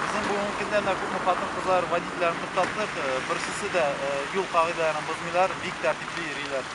Безнең бүгенге көндә менә күпме хатын-кызлар водительләрен туктаттык, э, берсесе дә э, юл кагыйдәләрен бозмыйлар, бик тәртипле йөриләр.